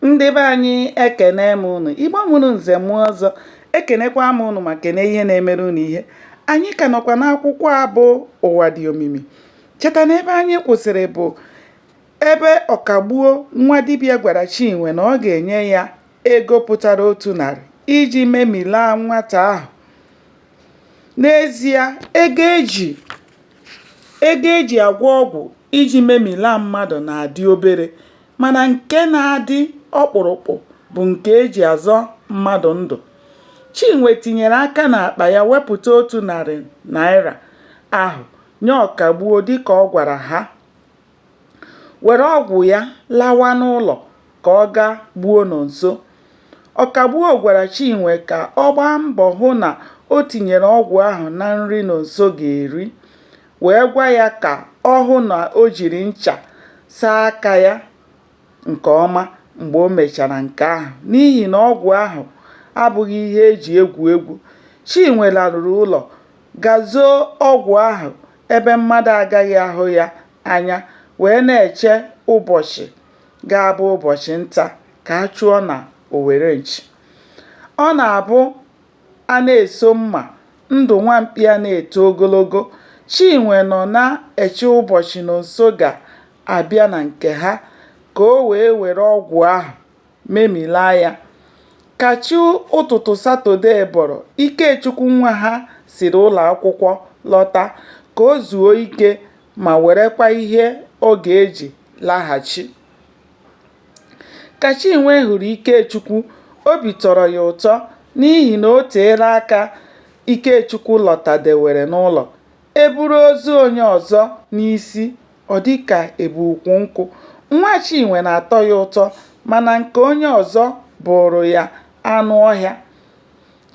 ndị be anyị ekene m ụnụ igbo mụrụ nze mụọ ọzọ ekenekwa m ụnụ ma kene ihe na-emere ụnụ ihe anyị ka nọkwa n'akwụkwọ abụ ụwa dị omimi cheta na ebe anyị kwụsịrị bụ ebe ọkagbuo nwa dibịa gwara chinwe na ọ ga-enye ya ego pụtara otu narị iji memilaa nwata ahụ n'ezie ego e ji agwọ ọgwụ iji memilaa mmadụ na-adị obere mana nke na-adị ọkpụrụkpụ bụ nke e ji azọ mmadụ ndụ. Chinwe tinyere aka n'akpa ya wepụta otu narị naịra ahụ nye Ọkagbuo dịka ọ gwara ha, were ọgwụ ya lawa n'ụlọ ka ọ gaa gbuo Nonso. Ọkagbuo gwara Chinwe ka ọ gbaa mbọ hụ na o tinyere ọgwụ ahụ na nri Nonso ga-eri. wee gwa ya ka ọ hụ na o jiri ncha saa aka ya nke ọma mgbe o mechara nke ahụ n'ihi na ọgwụ ahụ abụghị ihe e ji egwu egwu. Chinwe laruru ụlọ gaa zoo ọgwụ ahụ ebe mmadụ agaghị ahụ ya anya wee na-eche ụbọchị ga-abụ ụbọchị nta ka a chụọ n'owere nchi. Ọ na-abụ A na-eso mma, ndụ nwa mkpi a na-eto ogologo. Chinwe nọ na-eche ụbọchị Nonso ga-abịa na nke ha ka o wee were ọgwụ ahụ memilaa ya. Ka chi ụtụtụ Satọdee bọrọ, Ikechukwu nwa ha siri ụlọ akwụkwọ lọta ka o zuo ike ma werekwa ihe ọ ga-eji laghachi. Ka Chinwe hụrụ Ikechukwu, obi tọrọ ya ụtọ n'ihi na o teela aka Ikechukwu lọtadewere n'ụlọ. E buru ozu onye ọzọ n'isi, ọ dị ka e bu ukwu nkwụ. Nwa Chinwe na-atọ ya ụtọ mana nke onye ọzọ bụụrụ ya anụ ọhịa.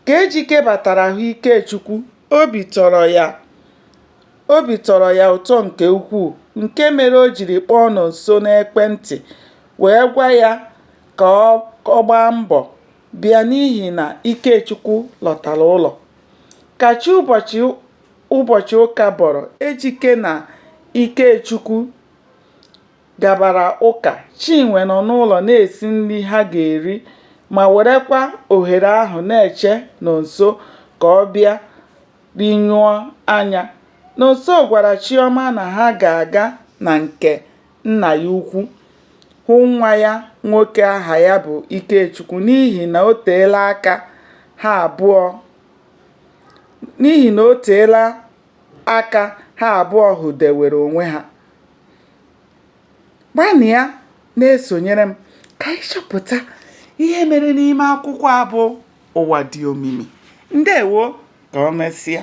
Ka Ejike batara hụ Ikechukwu, obi tọrọ ya. Obi tọrọ ya ụtọ nke ukwuu nke mere o jiri kpọọ Nonso n'ekwentị wee gwa ya ka ọ gbaa mbọ bịa n'ihi na Ikechukwu lọtara ụlọ. Ka chi ụbọchị ụka bọrọ, Ejike na Ikechukwu gabara ụka, Chinwe nọ n'ụlọ na-esi nri ha ga-eri ma werekwa ohere ahụ na-eche Nonso ka ọ bịa rinyụọ anya. Nonso gwara Chiọma na ha ga-aga na nke nna ya ukwu hụ nwa ya nwoke aha ya bụ Ikechukwu n'ihi na o teela aka ha abụọ hụdewere onwe ha. gbanịa na-esonyere m ka anyị chọpụta ihe mere n'ime akwụkwọ a bụ ụwa dị omimi ndewo ka o mesịa